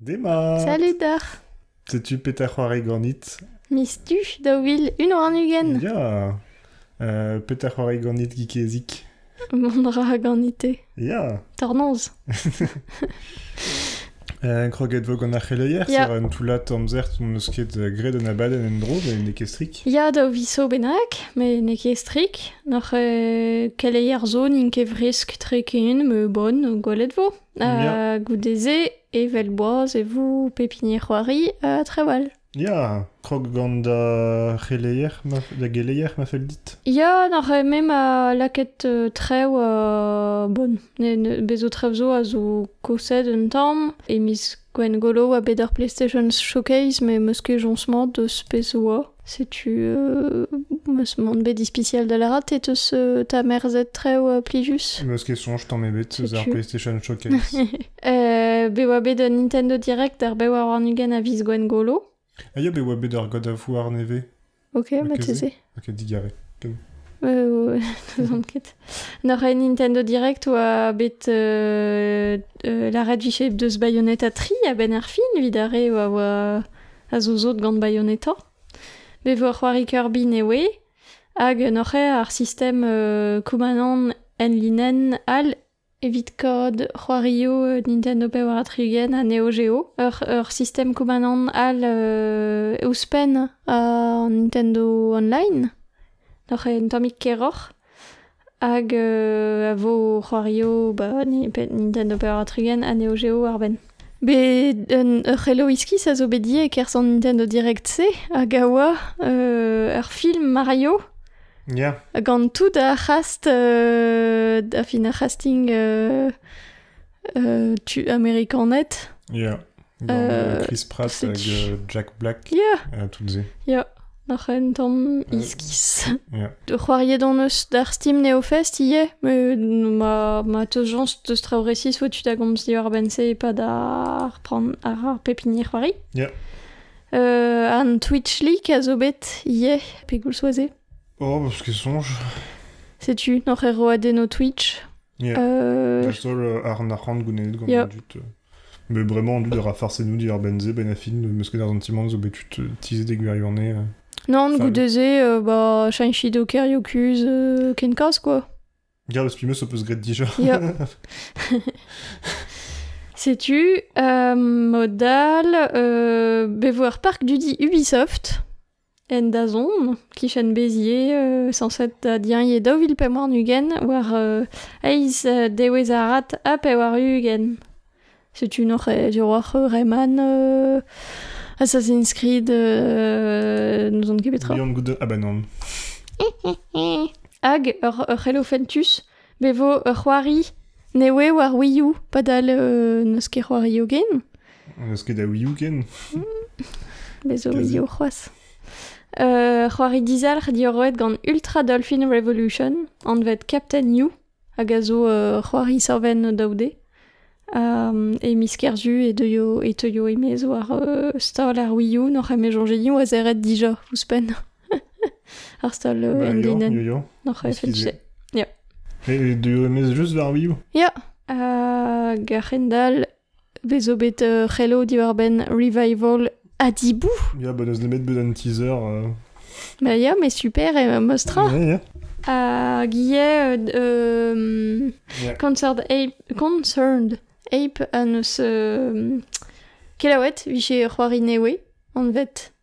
Demat Salut deoc'h Setu petra c'hoari ganit Miz du daou vil unu warn-ugent Ya euh, Petra c'hoari ganit Gikezik Mont ra ganite Ya Tornoz euh, Kroget vo gant ar c'heleier Ya. Ser un toullad amzer n'em eus ket graet un abadenn en-dro met n'eo ket strik Ya daou viso bennak, met n'eo ket strik Noc'h euh, keleier zo n'int ket fresk tre ken, me bon, gwelet vo Euh, goude-se, evel boaz e vous pepinier c'hoari euh, trawal. Ya, krog gant da c'heleier, ma, da geleier ma fell dit. Ya, n'arre même a laket euh, trev euh, bon, ne, ne, bezo trev zo a zo kosed un tamm, e miz Gwengolo oa bet ar PlayStation Showcase, met 'm eus ket joñs-mañ deus pezh 'oa. Setu, m eus mont bet ispisial da lâret e teus ta merzet traoù plijus. N'eus ket soñj tamm ebet eus ar PlayStation Showcase. bet oa bet un Nintendo Direct ar bev ar warn-ugent a viz Gwengolo. Ah ya, bet oa bet ar godavouar nevez. Ok, marteze. Ok, digare. Euh, ket. Nor a Nintendo Direct oa bet euh, euh, l'arrêt du shape de Bayonetta 3 a ben ar fin, vidare oa oa a zozot gant Bayonetta. Be vo c'hoari Kirby newe, hag nor ar sistem Kumanon en linen al Evit kaout c'hoarioù Nintendo Power ha Tri-Gen ha Neo Geo, ur ur sistem koumanant all ouzhpenn an Nintendo Online, oc'h en tammig keroc'h, hag a vo c'hoarioù ba Nintendo Power ha Tri-Gen ha Neo Geo war benn. Bet un ur c'helo iskis a zo bet ivez e-kerzh an Nintendo Direct-se hag a oa ur film Mario. Ya. Gant tout ar c'hast, euh, da fin ar c'hasting euh, euh, tu amerikanet. Ya. Gant euh, Chris Pratt hag euh, Jack Black. Ya. Uh, toutes ces. Ya. Noc'h un tamm iskis. Yeah. C'hoariet hon eus d'ar Steam Neofest ivez, mais ma, ma teus jañs deus traoù resis oa tu da gomz diwar benn-se e pad ar, pran, ar, ar pep hini c'hoari. Yeah. An Twitch-leak a zo bet ivez, pegoulz oa se Oh, bah, parce qu'il songe. Setu, noc'h er roadenno Twitch. Yeah. Euh, La seule euh, ar narc'hant gounenet gant Yeah. dut. euh. Mais vraiment, dut ra farsenou di ar benze, benafin, mesked ar zantimant zo bet tut euh, tizet e gwirionne. euh. Non, Fall. goude ze, euh, bah, chinchi doker yokuz euh, ken kas, quoi. Girl Spimus ho peus graet dija. Setu euh, modal euh, bevoir parc du dit Ubisoft en dazon kichen bezier euh, sanset da diaie daou vil pe war nugent war euh, eiz dewez arat a pe war ugent Setu noc'h diwar Reman Assassin's Creed n'ouzon ket petra. Leon Goude Abanan. Hag ur Helophentus bevo ur c'hoari ne oe war Wii U padal n'eus ket c'hoari hogen. N'eus ket a Wii U ken. Bezo Wii U c'hoazh. c'hoari dizalc'h diorroet gant Ultra Dolphin Revolution, anvet Captain You, hag a zo ur c'hoari servenn daoude. e miz Kerzu e deuio, e teuio e-maez war stal ar Wii-U n'oc'h eme soñjeliñ oazeret dija ouzhpenn. ar stal bah, endinenn. N'oc'h efe tu se. Ya. Et de remettre juste vers Wii U? Ya. Hag a-hendall Vez zo bet euh, c'hello diwar-benn revival Adibou. Ya, bah, n'eus nemet bet un teaser. euh. Bah ya, mais super, et euh, mostra. Yeah, yeah. Hag ivez euh, euh, Yeah. Concerned Ape, Concerned Ape an eus euh, kelaouet vije c'hoari newe anvet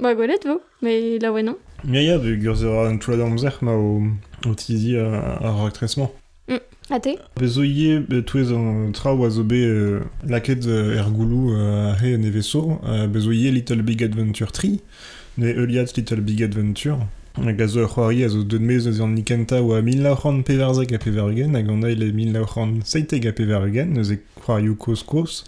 Ba gwelet 'vo, met laouen on. Ya, ya, peogwir ez a un toullad-amzer ma o, o tizi ar raktres-mañ. Mm. Ha te? Bez zo ivez e-touez an traoù a zo bet euh, lakaet euh, er gouloù euh, aze en Eveso. Euh, bez zo ivez Little Big Adventure 3, ne heuliad Little Big Adventure, hag a zo ur c'hoari a zo deut maez eus an kenta oa mil nav c'hant pevarzek ha pevar-ugent, hag an eil e mil nav c'hant seitek ha pevar-ugent, neuze c'hoarioù kozh-kozh.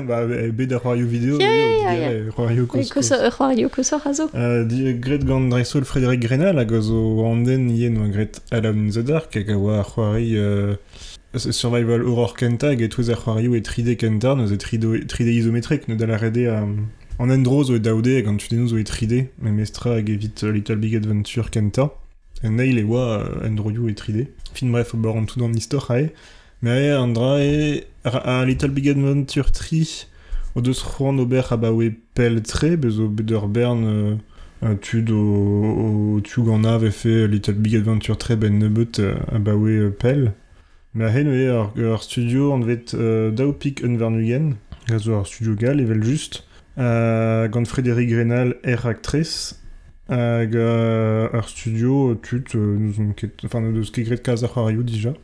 Bah, bet ar c'hoarioù video Yeah, eo, yeah, yeah. digare, c'hoarioù koz, koz. Ur c'hoario koshoc'h a zo. Uh, graet gant dreist-holl Frédéric Grenal hag a zo an den ien oa graet Alone in the Dark hag a oa ar c'hoari uh, survival horror kenta hag e-touez ar c'hoarioù e 3D kenta, neuze 3D, 3D izometrek, ne da lâret eo um, an endro zo e daoude hag an tudennoù zo e 3D, memestra hag evit uh, Little Big Adventure kenta. En eil e oa uh, endroioù e 3D. Fin bref, ober an tout an istor ae. Neuze an dra-se, ar Little Big Adventure tri o deus c'hoant ober abaoe pell-tre, bez' zo bet ur bern euh, tud o, o tiougannañ 'vefe Little Big Adventure tre 'benn nebeut euh, abaoe euh, pell. Neuze neuze ur, ur studio anvet euh, daou pik unvarn-ugent, a zo ur studio gall evel-just, gant Frédéric Rennal, er raktres, hag ur studio tud n'ouzon ket, enfin n'o deus ket graet kalz a c'hoarioù dija.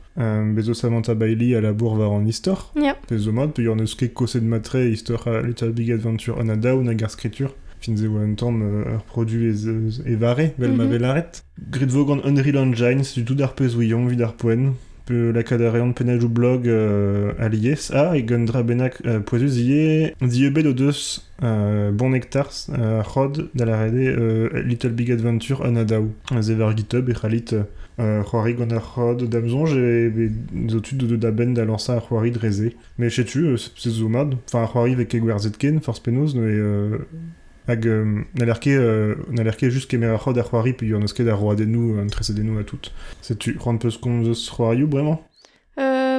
bez eus Samantha Bailey a labour war an istor. Yeah. Pezh zo mat, peogwir n'eus ket koset matre istor Little Big Adventure on a Down hag ar skritur. Fin ez eo un tamm ur produit e vare, vel ma mhm. vel aret. Grit vo gant Unreal Engine, setu tout ar pezh ouiomp evit ar poent. lakaat a reont pennadoù blog euh, alies. Ah, e un dra bennak euh, pouezus ivez. Dieubet o deus euh, Bon Nectar, euh, Rod, da la rede euh, Little Big Adventure Anadaou. Zever GitHub e c'hallit euh, c'hoari gant ar Rod dam zonj et zo tu de da ben da lancer ar c'hoari drezé. Mais je tu c'est zo mad. Enfin, ar c'hoari vek gwerzet ken, force penaos, ne Hag n'haller ket, n'haller ket just kemer ar c'hod ar c'hoari peogwir n'eus ket ar roadennoù, an tresadennoù ha tout. Setu, c'hoant peus komz eus c'hoarioù bremañ?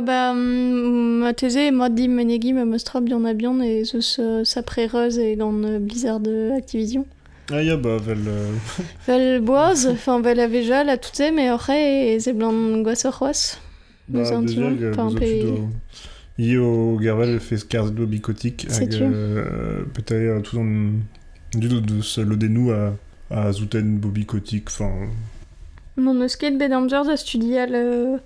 Ba marteze emañ dim menegiñ ma 'm eus tra bihan ha bihan ez eus saprez e gant Blizzard Activision. Ah ya, bah vel... Vel boaz, enfin vel a vejal ha tout se, mais oc'h eo e seblant gwashoc'h c'hoazh. Io Gervel fait scarz do bicotic hag euh, peut-être tout en dud deus lodennoù a, a zouten bo bicotic enfin Mon eus ket bet amzer da studial euh,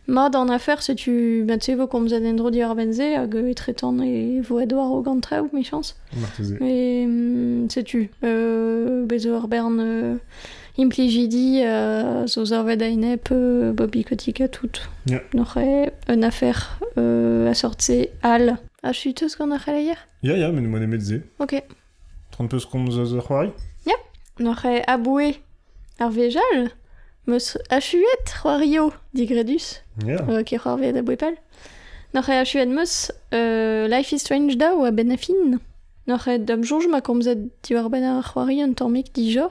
mat an afer setu bat se vo komzet en dro diar benze hag euh, etretan e vo edwar o gant traoù michans mais mm, setu euh, bezo ur bern euh, implijidi euh, zo zarvet a-enep euh, Bobby Kotick ha tout. Ja. Noc'he un afer euh, a sortse al. A chuteus gant ar c'heleier? Ja, ja, met m'en emet se. Ok. 30 peus komz eus ur c'hoari? Ja. Noc'he aboue ar vejal meus achuet c'hoario digredus. Ja. Euh, ket c'hoarveet a bouepal. Noc'he achuet meus euh, Life is Strange da oa ben a fin. Noc'he dam joñj ma komzet diwar ben ar c'hoari un tammig dija.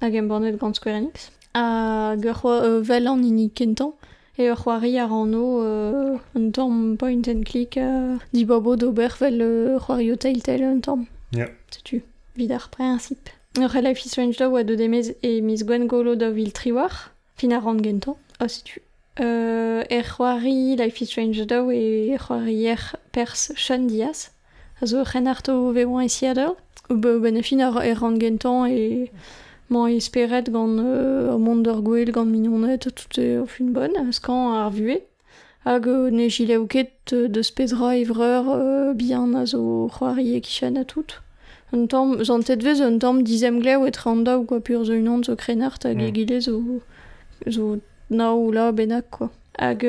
Hag embannet gant Square Enix. Hag ur c'hoa- vel an hini kentañ eo c'hoari a ra anv euh, un tamm point and click euh, dibabo d'ober vel euh, c'hoario Telltale un tamm. Ya. Setu, evit ar prinsip. Ur c'hell Life is Strange daou a deu d'e miz- e miz Gwengolo daou vil tri war. Fin a ran gentañ, ha setu. Euh, er c'hoari Life is Strange Shadow e c'hoarier Pers Sean Diaz a zo ur c'hrennarto vevañ e Seattle. Ba- Benn fin a ra- e ran gentañ e mañ e spered gant euh, ur mont d'ur gwel gant mignoned, tout eo fin bonn, skañ ar vuhez. Hag ne gelaou ket deus petra e vreur bihan a zo c'hoari e-kichen ha tout. Un tamm santet 'vez un tamm dizemglev etre an daou kwa pur zo unan zo krennard hag egile zo zo nav ula bennak kwa. Hag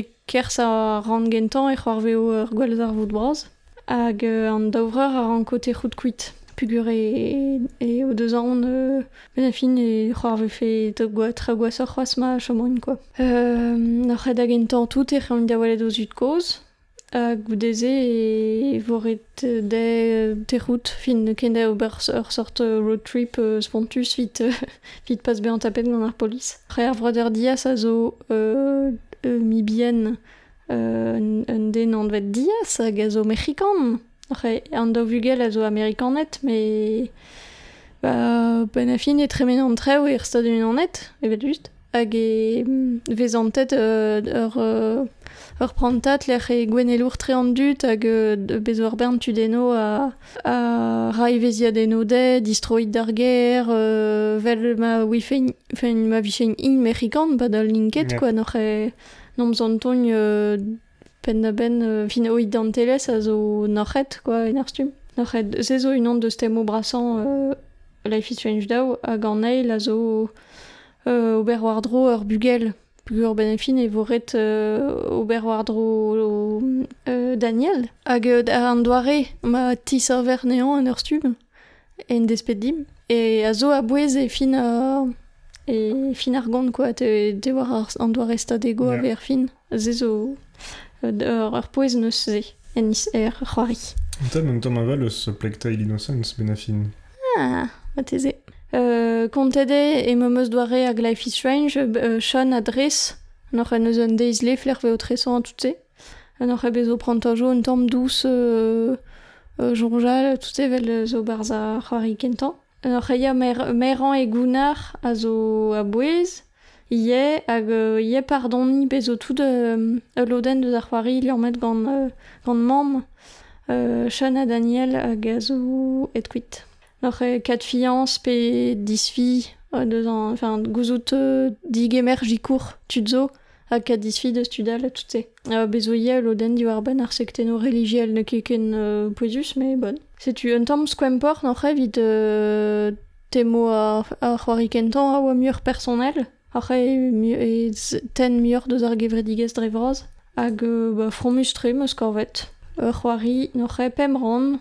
e-kerzh ar rann gentañ e c'hoarveo ur gwallzarvoud bras. Hag an daou vreur a ranko tec'hout kuit peogwir eo deus aon benn ar fin e c'hoarvezfe traoù gwashoc'h c'hoazh ma chomaint kwa. Ar c'hed a gentañ tout ec'h aint da welet o zud-kozh ha goude-se e vo ret dezhe tec'hout fin ken da ober ur sort road trip spontus evit pas bezañ tapet gant ar polis. Ar vreudeur diaz a zo mibien Un den anvet Diaz hag a zo mec'hikan. An daou vugel a zo amerikaned, met benn a fin e tremen an traoù er Stadoù-Unanet, evel-just. Hag e vez antet ur prantad lec'h e gouennelour-tre an dud hag bez ur bern tudenno a ra evezhiadenno dezhe, distroit d'ar gêr, vel ma vijent mec'hikan, padal n'int ket, quoi. Nomp zantogn penn-da-benn vino identelezh a zo noc'het quoi en ar stumm. Noc'het, se zo unan deus temoù brasañ Life is Strange daou hag an eil a zo ober war-dro ur bugel peogwir benefin e vo ret ober war-dro Daniel hag an doare ma tiserver anezhañ en ur stumm. En desped dimp, e a zo a-bouez e fin e fin ar gont quoi, te war an doare stadego a vez er fin. Se zo ur pouez eus se en er c'hoari. An tad an tamm aval eus Plectile Innocence, Benafin. Ah, mateze. kontet eo e meus eus doare hag Life is Strange, Sean a dres, noc'h en eus un deiz lef lec'h vezo tresoñ tout se. En oc'h eo bet zo prantajo un tamm dous soñjal tout evel zo 'barzh ar c'hoari kentañ. En oc'h eo maerañ e gounnar a zo a-bouez ivez hag ivez pardoniñ pezh zo tout ul lodenn deus ar c'hoari liammet gant mamm Sean ha Daniel hag a zo aet kuit. Oc'h eo ket fiañs pe disfi deus an, enfin, gouzout euh, digemer jikour tud zo ha ket disfi deus tud all ha tout-se. Ha bez' zo ivez ul lodenn diwar-benn ar sektennoù relijiel n'eo ket ken euh, pouezus, mais bon. Setu un tamm skoemport oc'h evit euh, temo ar, ar c'hoari kentañ a oa muioc'h personel, oc'h eo mu- e z- tenn muioc'h deus ar gevredigezh dre vras, hag euh, bah, fromus-tre 'm eus kavet. Ur c'hoari n'oc'h eo pemp rann,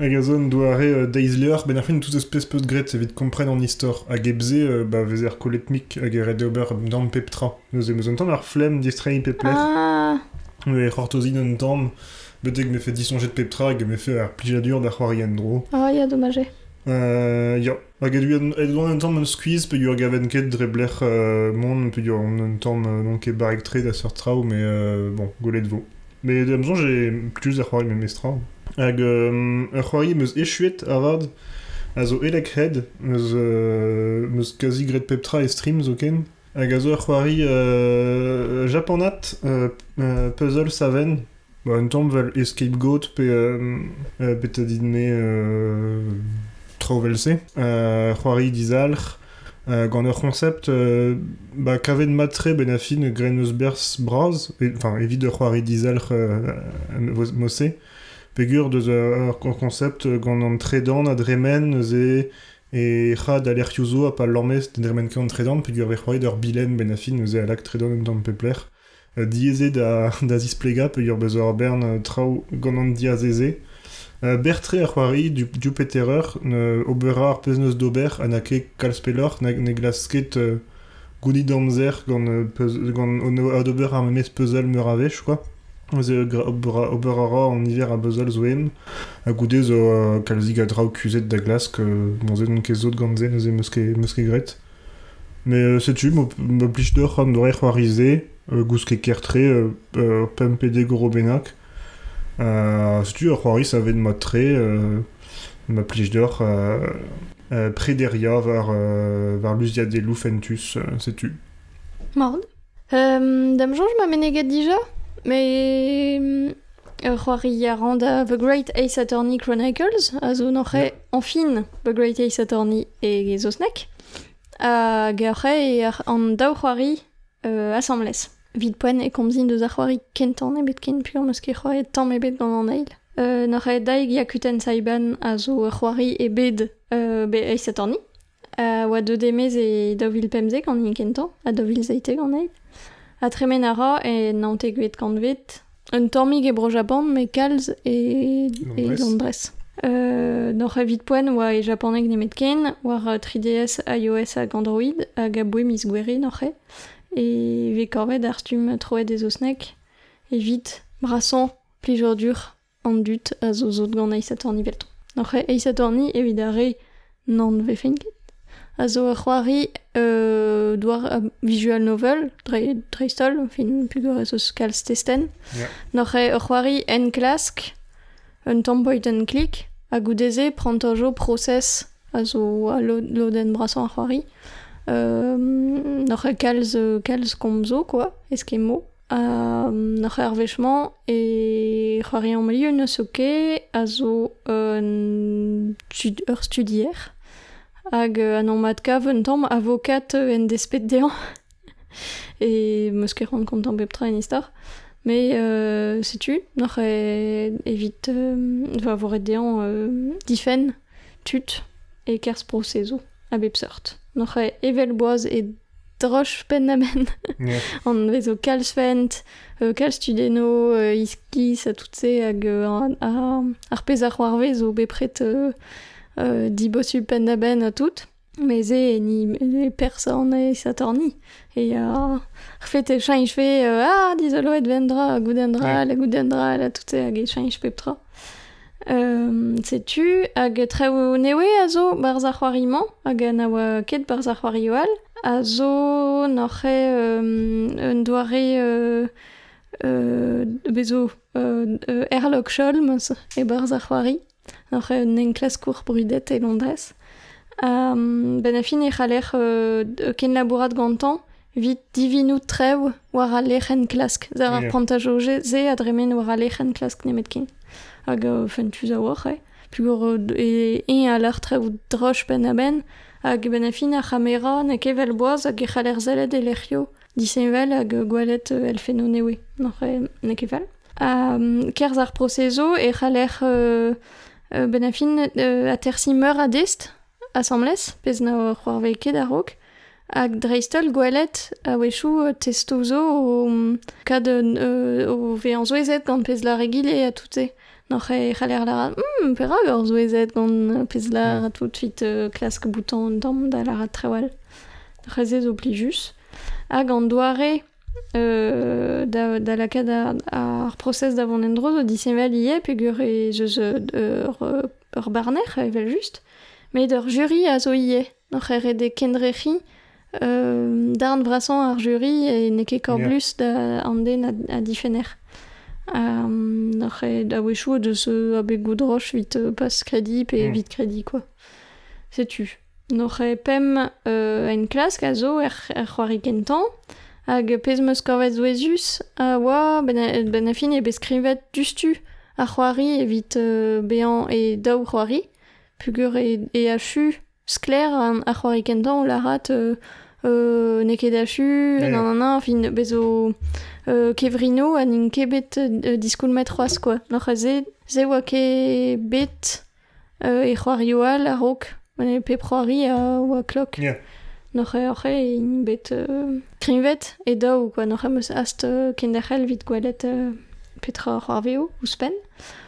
Hag a zo un doare deiz-levr benn ar fin, tout az peus peus graet evit kompren an istor. Hag hep-se, ba vezer kolletmik hag e ret d'ober damm pep tra. Neuze 'm eus un tamm ar flemm, distreiñ pep lec'h, Ah, e c'hortozin un tamm, betek m'efe disoñjet pep tra hag m'efe ar plijadur da c'hoari en-dro. ah, ya, dommage. Euh, ya, Hag evit evit mont un tamm un skuizh peogwir gaven ket dre blec'h mont peogwir on un tamm n'on ket barrek-tre da seurt traoù mais bon gwelet 'vo. Mais da 'm soñj eo plijus da c'hoari memes tra. Hag ur c'hoari 'm eus echuet avat a zo Elec'hed, 'm eus m eus kazi graet pep tra e stream zoken hag a zo ur c'hoari japanat puzzle saven. Ba un tamm 'vel scapegoat pe betra dit-me traoù 'vel-se, c'hoari dizalc'h gant ur c'honsept ba kavet mat-tre 'benn ar fin graet 'm eus berzh bras enfin evit ur c'hoari dizalc'h mod-se peger deus ur konsept gant an tredan a dremen neuze e c'had alerc'hioù zo ha pa lamez ne dremen ket an tredan peger 'vez c'hoaet ur bilenn 'benn ar fin neuze a lak tredan un tamm pep lec'h. diaezet da zisplegañ peurbezañ ur bern traoù gant an diazez-se. Berr-tre a c'hoari Jupiter Earth, ober a ra ar pezh 'neus d'ober ha n'a ket kalz pelloc'h, ne glask ket gounit amzer gant adober ar memes puzzle meur a wech kwa. Ober a ra an niver a buzzle zo eno ha goude zo kalzik a draoù kuzhet da glask, bon se n'on ket sot gant se neuze 'meus ket graet. Met setu ma plij deoc'h an doare c'hoari-se gousked ker-tre pemp pe dek euro bennak. setu ur c'hoari savet mat-tre ma plij deoc'h prederiañ war luziadeloù fentus. setu. Mat. Da'm soñj ma meneget dija, met ur c'hoari a ran da The Great Ace Attorney Chronicles, a zo an c'hae añfin The Great Ace Attorney e saozneg, hag ar c'hae eo an daou c'hoari asambles. Evit poent e komzin deus ar c'hoari kentañ nemet ken puilh am eus ket c'hoaet tamm ebet gant an eil. An c'hae Daig Yakuten Saiban a zo ur c'hoari e bed The Ace Attorney. a oa deuet e-maez e daou vil pemzek an hini kentañ, ha daou vil seitek anezhi. Ha tremen a ra e naontekvet kantved, un tammig e Bro-Japan, met kalz e, e Londrez. Euh, N'oc'h evit poent oa e japaneg nemetken, war 3DS, iOS hag Android, hag aboe miz Gouere noc'h E vez kavet ar stumm troet e saozneg, evit brasañ plijadur an dud a zo sot gant aes satorn evelto. N'oc'h eo aes satorni evit ar re n'an vefent ket, a zo ur c'hoari euh, douar uh, visual novel, dreist-holl, fin pugorez eus kalz testenn. Yeah. N'oc'h eo ur c'hoari enklask, un tamm point and click, ha goude-se prant ur jo process a zo a lodenn brasañ ar c'hoari. Euh, N'oc'h eo kalz, kalz komzo, quoi, eskemo, Ar c'hoarvezh-mañ e c'hoariañ Milieu so ket a zo un ur studier hag an anv-adkav un tamm avocat en desped dezhañ e 'm eus ket c'hoant kontañ pep tra en istor met setu noc'h evit va vo ret dezhañ difenn tud e-kerzh prosezoù a bep seurt noc'h evel boaz e Droch penn-ha-benn. Yeah. An vezo kalz-fent, euh, kalz tudenno, euh, iskis, ha tout-se, hag euh, ar, ar pezh a c'hoarvez zo bepred euh, euh, dibosu penn-ha-benn ha tout. Mes e ni ne person e Satorni. E euh, ar fet e chañch fe euh, ah, dizoloet ven dra, ha gout un dra, Ouais. hag gout un dra, hag tout-se, hag e chañch pep tra. Setu, hag traoù newe a zo barzh ar c'hoari-mañ, hag na oa ket barzh ar c'hoarioù all, a zo n'oc'h un doare bez zo Herlock Sholmes e-barzh ar c'hoari, n'oc'h un enklaskour brudet e Londrez. benn ar fin e c'haller kenlabourat gantañ Evit divinout trev war al lec'h-enklask. War ar plantajoù-se a dremen war al lec'h-enklask nemetken. Hag uh, fentus a-walc'h, eh. Pugur e, eñ a lar trevout droch penn-ha-benn, hag e benn fin ar c'hamera n'eo ket vel boaz hag e c'haller sellet e lec'hioù disheñvel hag gwelet uh, elfennoù newe. Noc'h n'eo ket fel. Ha um, kerzh ar prosezo e c'haller uh, uh, benn fin uh, atersiñ meur a dest asambles, pezh na c'hoarvez ket a-raok. Hag dreist-holl gwelet a-wechoù testoù zo o kad o vezañ souezhet gant pezh lâr egile ha tout-se. N'hoc'h e c'haller lâret hm perak oc'h souezhet gant pezh lâr tout 'vit klask bouton an damm da lâret trawal. C'hwezh zo plijus. Hag an doare da lakaat ar prosez da vont en-dro zo disheñvel ivez peogwir ez eus ur barner evel-just met ur jury a zo ivez. Oc'h eret e kendrec'hiñ darn vrasañ ar juri e n'eo ket korblus da an den a difenner. Oc'h ret a-wechoù o deus abeg droch evit pas-krediñ pe evit krediñ kwa. Setu. N'oc'h ket pemp enklask a zo er c'hoari kentañ hag pezh 'm eus kavet souezhus a oa benn ar fin eo bet skrivet diouzhtu ar c'hoari evit bezañ e daou c'hoari. Puguret eo achu, sklaer ar c'hoari kentañ, lârat n'eo ket achu, nan nan nan, fin bez zo kevrinoù ha n'int ket bet diskoulmet c'hoazh kwa, oc'h aze se oa ket bet e c'hoarioù all a-raok, pep c'hoari a oa klok, n'oc'h int bet kreñvet e daou kwa, n'oc'h eus hast kenderc'hel evit gwelet petra a c'hoarveo ouzhpenn.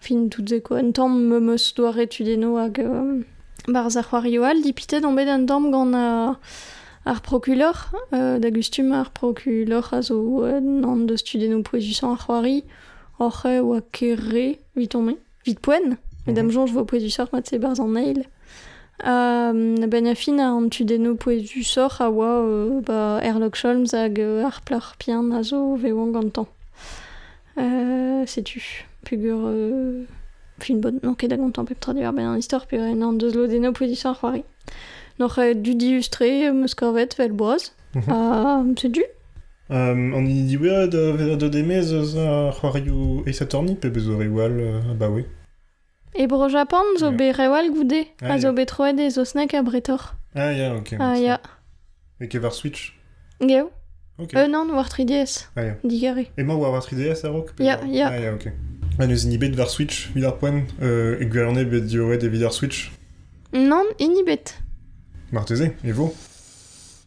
Fin tout se quoi. Un tamm meum eus doare tudennoù hag euh, barzh ar c'hoarioù all. Dipitet on bet un tamm gant euh, ar prokulor. Euh, da gustum ar prokulor a zo euh, an deus tudennoù pouezusañ ar c'hoari. Oc'h e oa ket re, vit on vit poen. Met da'm soñj vo pouezusoc'h mat se barzh an eil. Uh, ben a fin an tudennoù pouezusoc'h a oa euh, ba Herlock Holmes hag euh, ar plac'h pian a zo vevan gantañ. setu peger fin bod n'on ket da gontañ pep tra diwar-benn an istor peger en deus lodennoù position ar c'hoari n'oc'h aet du diustre em eus kavet vel boaz mhm. ha setu Um, an hini diwezhañ da vezañ deus eus ar c'hoarioù Ace Attorney pe beus reoù all uh, abaoe E Bro-Japan zo bet rev all goude, a zo bet troet e saozneg ha bretoc'h. Ah ya, ok. Ah ya. Et qui war Switch Geo. Ok. Euh, non, war 3DS. Ah ya. Digare. Et moi, war 3DS à Rock Ya, ya. Ah ya, ok. Ah, neus inibet war Switch, vid ar poent. Euh, e gwelane bet dioet evit ar Switch Non, inibet. Marteze, e vo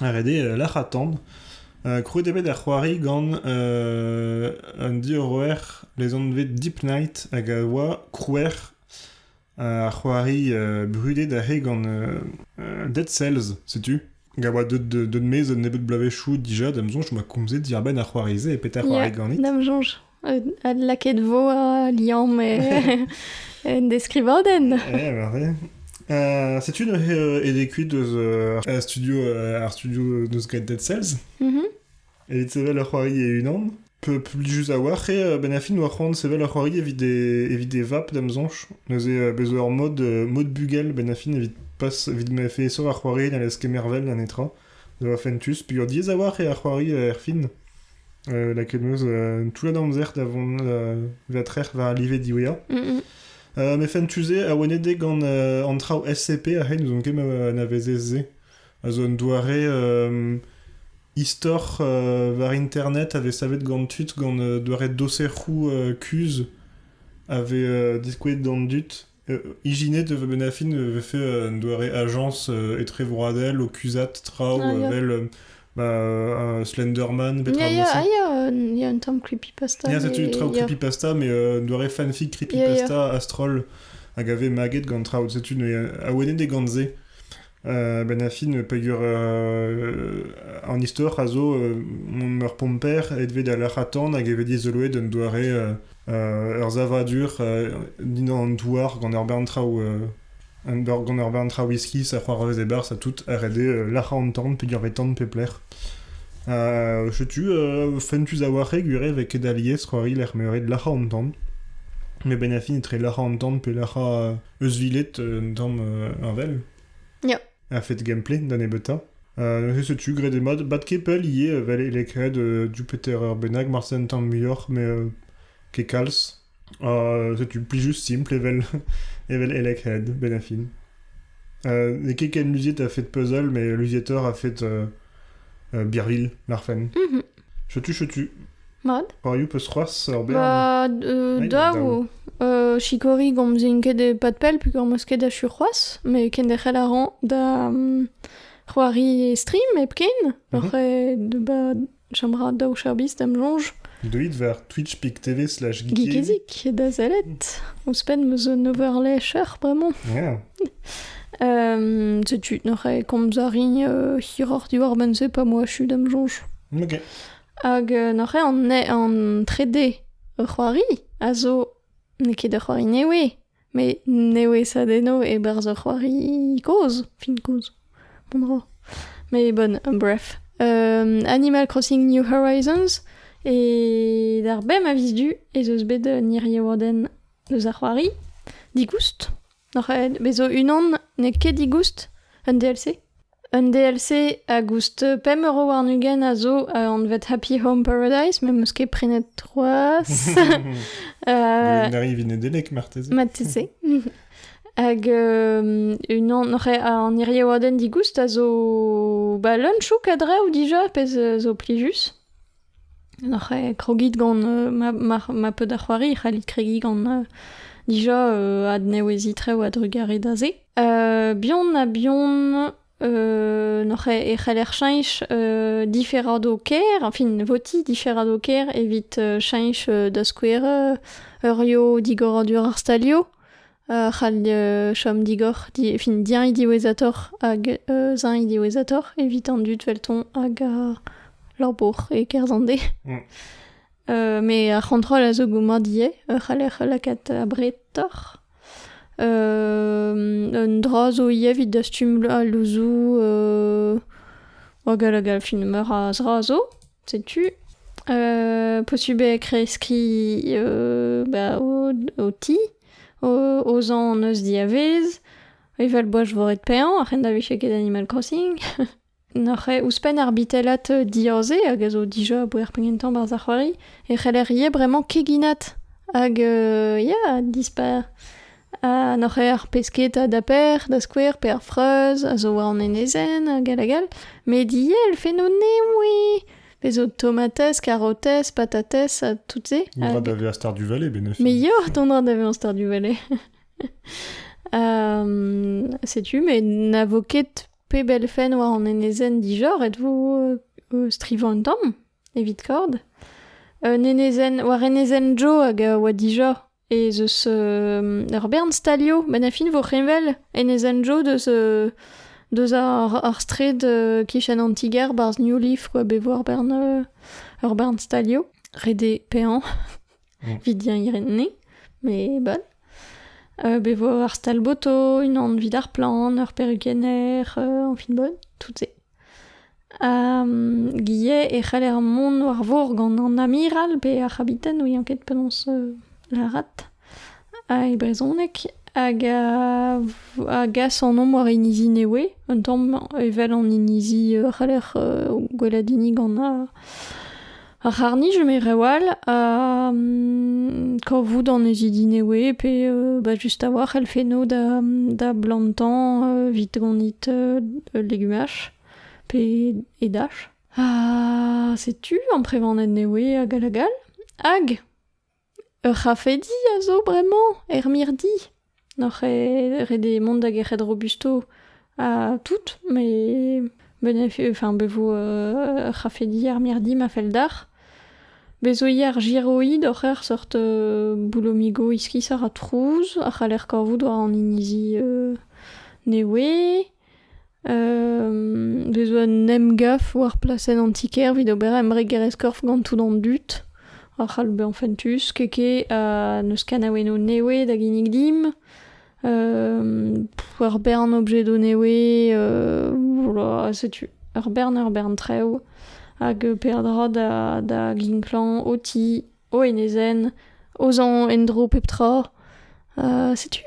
Ret eo lec'hañ tan. Krouet eo bet ar c'hoari gant an diorroer lezanvet Deep Night hag a oa krouer ar c'hoari brudet aze gant Dead Cells, setu. Hag a oa deut deut maez un nebeud bloavezhioù dija, da'm soñj, ma komze diàr-benn ar c'hoari-se e petra c'hoari ganit. Da'm soñj. Adlakaet vo a liamm en deskrivadenn. Eh, parfait. Euh, c'est-tu une édécuit de un studio, un studio de Sky Dead Cells. Mm Et sevel ur c'hoari e unan. Peu plus a war e benafin war c'hoant sevel ur c'hoari evit des evit des vap d'am zonch. Neuze bezo ur mod mod bugel benafin evit pas evit me fe sur ar c'hoari dans les kemervel d'un etra. Da fentus, peseurt yezh a-walc'h eo ar c'hoari erfin lakaet 'm eus un toullad amzer da vont va trec'h war al live diwezhañ. Met fentus-se, awennet gant an traoù SCP a c'hay n'ouzon ket ma anavezez se, a zo un doare istor war internet a vez savet gant tud gant doare doserioù kuzh a vez diskouezet d'an dud. Ijinet e vo benn ar fin e vefe un doare ajañs etrevroadel o kuzhat traoù Ah, ya. evel euh, bah, euh, Slenderman, Il y a, petra ah, il y a, euh, il y a un terme creepypasta. Il y a mais- cette traoù il y a- creepypasta, mais euh, un doare fanfic Il y a- il y a. creepypasta astrol hag a ve maget gant traoù. C'est une euh, awenet e gant se. Ben Affin peger an istor a zo ur pomper aet da larc'hatorn hag e vez dizoloet un doare ur savadur dindan an douar gant ur bern traoù gant ur bern traoù iskis ha c'hoarvez e-barzh ha tout a rede larc'hañ an tan peger vez tan pe plec'h. Setu fentus a-walc'h eo gwir eo vez ket alies c'hoari lec'h m'eo ret larc'hañ an tan. Met Ben Affin etre larc'hañ an tan pe larc'hañ euzhvilet un tamm un well. Ya. Un fait gameplay da nebeutañ. neuze setu, graet mat, bat kepel ivez, vel e lekred du Peter Urbenag, Marcel Muioc'h, mais ket kalz. setu plus juste simple evel, evel Elecred, ben affin. Euh, N'eo ket ken luziet a fait puzzle, mais Luziator a fait euh, euh, Birville, Larfen. Mhm. Chetu, chetu. Mad. C'hoariou peus c'hoaz ur bern? Ba euh, daou. Euh, sikori gomzin ket e pad pell peogwir meus ket achu c'hoazh, met kenderc'hel a ran da um, c'hoari e stream hepken. Mhm. Oc'h e de ba chambra daou cherbis d'am soñj. Deuit ver. twitch.tv slash geezik da sellet. Ouzhpenn meus un overlecher bremañ. Yeah. Euh, setu n'oc'h komz a rin euh, hiroc'h diwar ben-se pa moa chu da'm soñj. Ok. Hag euh, n'oc'h an, an 3D ur c'hoari a zo n'eo ket ur c'hoari newe, Mais newesa deno e-barzh ur c'hoari kozh, fin kozh, bon dro. Mais bon, bref. Euh, Animal Crossing New Horizons, e d'ar bem a vis du ez eus bet un iriodenn eus ar c'hoari. Digoust. Noc'h bet zo unan n'eo ket digoust, un DLC. Un DLC hag ouzh pemp euro warn-ugent a zo anvet Happy Home Paradise, met 'm eus ket prenet c'hoazh. Euh, N'arrive Nedelec, marteze. Marteze. Hag euh, unan an iriaouadenn digoust a zo ba lunchouk a-drev dija, pezh zo plijus. Oc'h krogiñ gant ma peud a c'hoari e c'hallit kregiñ gant dija adnewezhiñ-trev a-drugarez da se. Bihan-ha-bihan e c'heller cheñch diferadoù kêr, enfin votiñ diferadoù kêr evit cheñch da skouer eurioù digor ar stalioù. c'hall chom digor fin diañ diwezhatoc'h hag euzhañ diwezhatoc'h evit an dud felton hag ar labour e-kerzh an deiz. met ar c'hontrol a zo goumad ivez e c'haller lakaat abretoc'h. un dra zo ivez evit dastum al louzoù hag hag fin meur a zra zo. Setu posubl eo kreskiñ bah ho ti, o zañ hon eus diavez, evel-boaz svoret paeañ, a-ren da vije ket Animal Crossing. N'oc'h eo ouzhpenn ar bitellat diaze, hag a zo dija a-bouez penn gentañ 'barzh ar c'hoari, e c'heller ivez bremañ keginat hag ya, dispar. N'oc'h ket ar pesketa da per, da skouer, pe ar freuz a zo war an enezenn hag all hag all, met ivez elfennoù nemoui, pezh zo tomatez, karotez, patatez ha tout-se. Dont da vezañ Stardew Valley, benefit. Mais yoh, dont da vezañ Stardew Valley. setu, mais na vo ket pep elfenn war an enezenn dijor, êtes-vous strivañ un tamm, evit kord? Un enezenn, war enezenn Joe hag a oa dijor. ez eus ur bern stalioù met a fin vo heñvel en ez endro deus deus ar straed kichen an ti-gêr 'barzh New Leaf quoi bet vo ur bern ur bern stalioù ret eo paeañ evit diengrenniñ mais bal bet vo ar stal-boto unan 'vit ar plant ur perrukenner añ fin 'bonn tout se Gie e c'haller mont war-vor gant an amiral pe ar c'habiten, n'ouien ket penaos lârat, e brezhoneg, hag a gas an omp war inizi Newe, un tamm evel an inizi c'haller gwelet hini gant ar... Ar c'harr-nij eme reoù all ha kavout annezidi newe pe ba just a-walc'h elfenno da da blantañ evit gonit legumaj pe edaj. Ha setu amprevaned newe hag all hag all. Hag Ur c'hafedi a zo bremañ er mirdi. Noc'h eo ret eo mont da gerc'hat Robusto ha tout, met enfin bet vo ur c'hafedi ar mirdi ma fell deoc'h. Bez zo ivez ar giroid oc'h ec'h seurt boulomigo iskis a ra trouz a c'haller kavout war an inizi newe. Vez zo un emgav war plasenn an ti-kêr evit ober embregerezh-korf gant tout an dud. A c'hall bezañ fentus, keke ha n'eus kanaouennoù newe da ginnig dimp. ur bern objedoù newe, setu ur bern ur bern traoù. Hag peadra da ginklañ ho ti, ho enezenn, ho zañ en-dro pep tra. setu.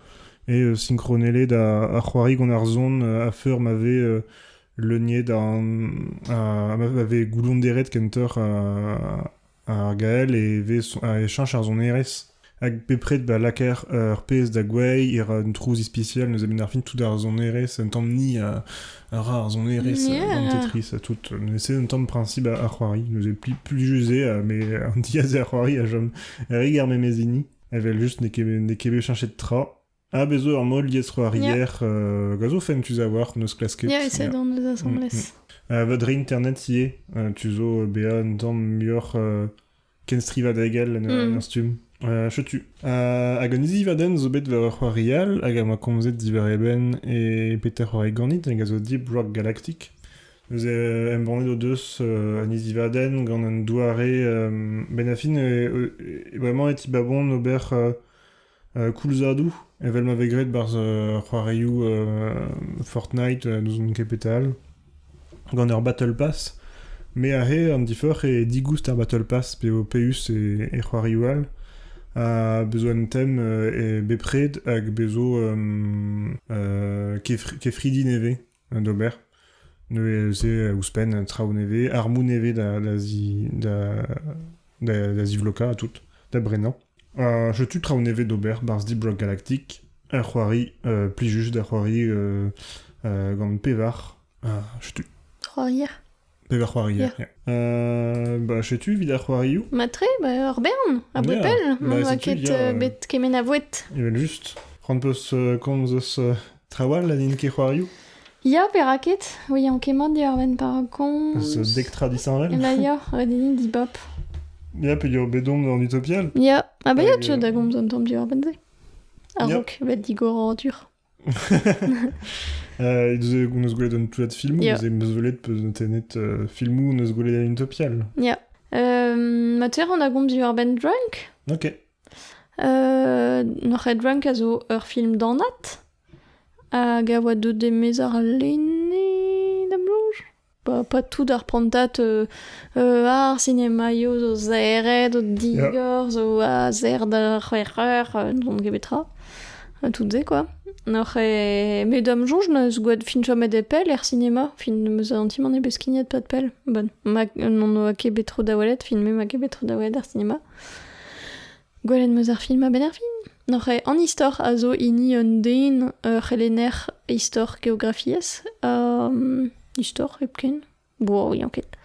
sinkronellet ar c'hoari gant ar son a-feur ma vez leuniet ha ma vez goullonderet kentoc'h ar gael e cheñch ar sonerezh hag bepred ba lakaer ur pezh da gouezhi e ra un trouz ispisial neuze benn ar fin tout ar sonerezh un tamm ni a ra ar sonerezh gant tetris ha tout c'est un tamm principe ar c'hoari neuze plijus eo met an diazeer c'hoari a chom re ger memez hini Evel-just, n'eo ket, n'eo ket bet chanchet tra. Ah, bez zo ur mall liesc'hoarier euh, gant zo fentus a-walc'h n'eus klasket. Ya, ese dans nos assemblées. Euh, votre internet ivez, euh, tu zo bezañ un tamm muioc'h euh, kenstrivañ degel en mm. stumm. Euh, chetu. Euh, hag an izi vaden zo bet war ur c'hoari all, hag a ma komzet diwar eben e Peter Oregonit, hag a zo Deep Rock Galactic. Neuze euh, embannet o deus euh, un isivadenn gant un doare euh, benafin e, e- e bremañ e tibabont ober euh, euh, koulzadoù evel ma vez graet barzh euh, c'hoarioù euh, Fortnite euh, n'ouzon ket petal gant ur battle pass me aze an diforc'h eo digoust ar battle pass pe o peus e, e c'hoarioù all ha bezo un tem euh, e bepred hag bezo euh, euh, kefri- kefridi nevez d'ober. Neuze, ouzhpenn, traoù nevez, armoù nevez da zivlokañ ha tout, da brenañ. setu traoù nevez d'ober 'barzh Deep Rock Galactic. Ur c'hoari plijus da c'hoari gant pevar. Setu. C'hoarier. Hag ar c'hoarier. Ya. Euh, bah, setu evit ar c'hoarioù. Matre, ba, ur bern, a boued Ya, pell, bah, n'oa setu, ket ya, euh, euh. bet kement a voued. Evel-just. C'hoant peus euh, komz eus euh, trawal ha n'int ket c'hoarioù? Ya, perak ket? Ouian kemmañ diorren par komz. Eus euh, dek tra disheñvel? La ya, redini dibop. Ya, pe eo bet omp d'an Utopial? Ya, ha bezañ tu da gomz un tamm diorren-se. A-raok, bet digor adur. Euh, on eus gwelet un toullad filmoù, yeah. m'eus welet tennet euh, filmoù on eus gwelet Utopial. Yeah. Euh, ma terer an agomp diwar-benn Drunk. Ok. Euh, Noc'h Drunk a zo ur film danat hag a oa deuet e ar lene da Pas, pas tout ar prantad euh, euh, ar sinemaioù zo serret, zo digor, zo a serr da c'hwec'h eur, euh, n'on ket bet tra. Euh, Tout-se, quoi. Noc'h e... Me da'm soñj neus gwad fin chomet e pell er sinema. Fin neus an ti man e bet skignet pad pell. Bon, ma n'on oa ket bet tro da welet, fin me ma ket bet tro da welet er sinema. Gwelet 'm eus ar film a-benn ar fin. N'oc'h ket an istor a zo hini un den, ur c'helenner istor geografiezh. Um, istor hepken. Bo, yañ ket.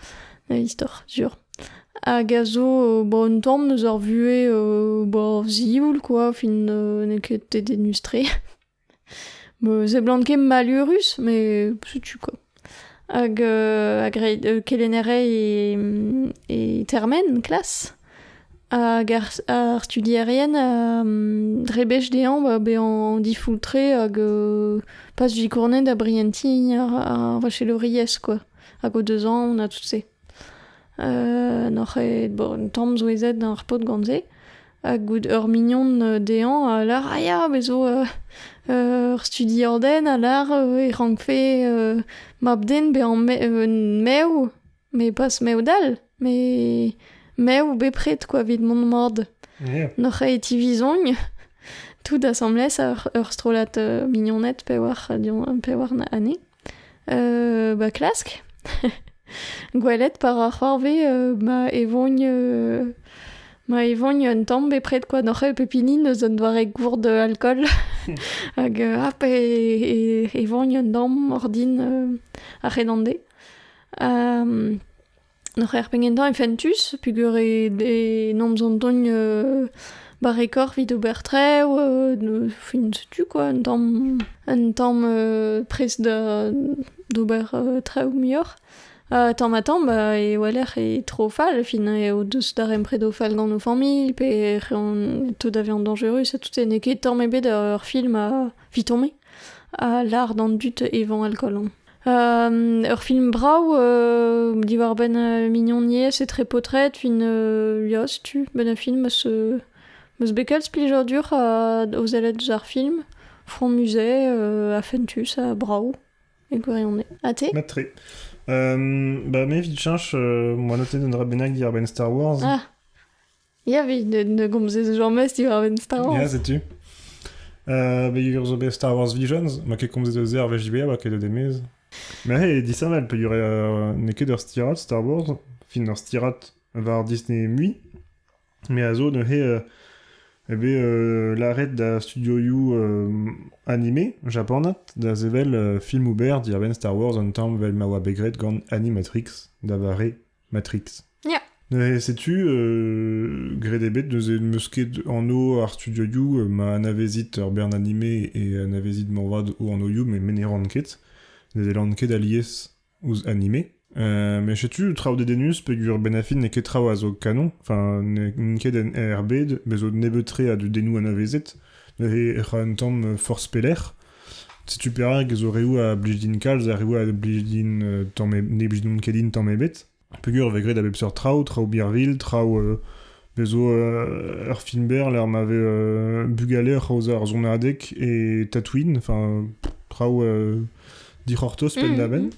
Istor, sur. Hag a zo ba, un tamm eus ar vuhez ba, zivoul, quoi. Fin n'eo ket dedennus-tre. Bo seblant ket malurus, met setu quoi. Hag euh hag reiñ euh kelennerei e e termen klas. Hag ar ar studierien a drebech dezhañ ba bezañ difoultre hag euh pas zikournet da brientiñ ar ar vachelouriezh quoi. Hag o deus aon ha tout se. N'oc'h ket bon tamm souezhet ar paotr gant se. Ha goût ur mignon dezhañ a lar ah ya, me zo ur studiadenn a lar e rankfe mab-den bezañ mev, met pas mev-dall, met mev bepred kwa evit mont mat. N'oc'h ket e tivizogn tout asambles ur strollad mignoned pevar ane. ba klask. Gwelet par ar c'hoarve ma evogn ma evogn un tamm bepred kwa noc'h pep hini eus un doare gourd alkool hag hap e evogn un damm ordin ar c'henande. Hor c'hêr pe gentañ eo fentus peogwir eo nomp zo deuet euh, barrekoc'h evit ober traoù, euh, fin setu quoi, un tamm, un tamm euh, prest da d'ober traoù muioc'h. tamm-ha-tamm e oalec'h eo tro fall, fin eo deus darempred o fall gant o familh pe ec'h eo tout da vezañ dañjerus ha tout se, n'eo ket tamm ebet ur film a 'vit tommer, a lâr d'an dud evañ alkool on. ur film brav diwar-benn mignoniezh etre paotred une ya setu ben un film eus eus bet kalz plijadur o sellet deus ar film Front Musée ha fentus ha brav e gwirionez ha te mat tre bah me evit cheñch moa notet un dra bennak diàr benn Star Wars ah Ya, vi ne, gomzez jamez diwar-benn Star Wars. Ya, setu. Euh, mais ils ont bien Star Wars Visions, ma ket komzet eus ar VJB, ba ket eus demez. Mais hey, disheñvel, peogwir euh, n'eo ket ur stirat Star Wars, fin ur stirat war Disney mui, mais a zo neuze euh, eh ben, euh, l'arrêt da studio You euh, animé japanat da zevel euh, film ober diarbenn Star Wars an tamm vel ma oa bet graet gant Animatrix da vare Matrix. Yeah. Et sais-tu, euh, gré des bêtes, nous meus ket anno ar studio You, euh, ma anavezit ur bern animé et anavezit morvad o anno You, mais me ne ran ket. Ne delan ket alies ouz animé. Euh, mais chetu traou de denus pegur benafin n'e ket traou a zo canon, enfin n'en ket en RB, bezo nebeutre a du denou anavezet, ne e ra un tam force peler, Setu perak zo reoù a blij din kalz ha reoù a blij din tamm e- ne blij ket din tamm ebet. Peogwir e vez graet a bep seurt traoù, traoù birvilh, traoù euh bez zo euh ur film-berr lec'h ma vez euh bugale oc'h aozañ ur sonadeg e Tatooine, enfin traoù euh dic'hortoz penn-da-benn.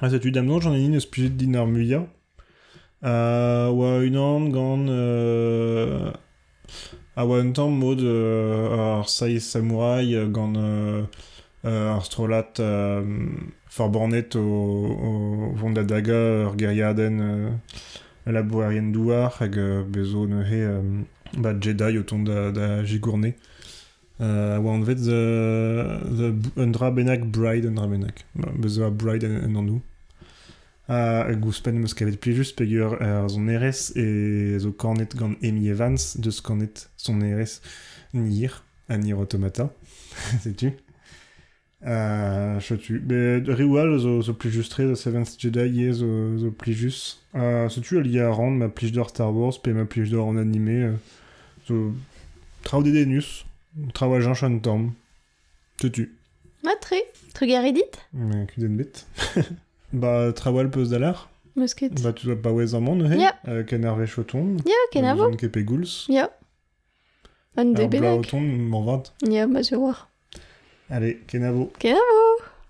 Ha setu da'm soñj an hini 'neus plijet din ar muiañ. a oa unan gant a oa un tamm mod ar Seiz Samouraï gant ar strollad forbannet o vont da dagañ ur gêriadenn labourerien-douar hag bez' zo neuze ba Jedi o tont da zigourne. a oa anvet un dra bennak Bride, un dra bennak. Bez a Bride en anv. hag ouzhpenn em eus kavet plijus peger ar sonerezh e zo kanet gant Amy Evans deus kanet sonerezh Nier ha Nier Automata. Setu. setu, met reoù all zo, zo plijus-tre, da Seventh Jedi ivez zo, zo plijus. setu aliañ a ran ma plij d'or Star Wars pe ma plij d'or an animé. zo traoù dédénus, traoù à Jean un Torm. Setu. Ah, très, très garedit. Mais qu'une bête. bah, traoal peus d'aller. Bah, tu dois pas ouez un monde, hé? Yeah. Euh, Canarvé Choton. Yeah, Kenavo. John Kepe Gouls. Yeah. Un D bennak. O tont, moarvat. Ya, ma zo war. Allez, kenavo. Kenavo!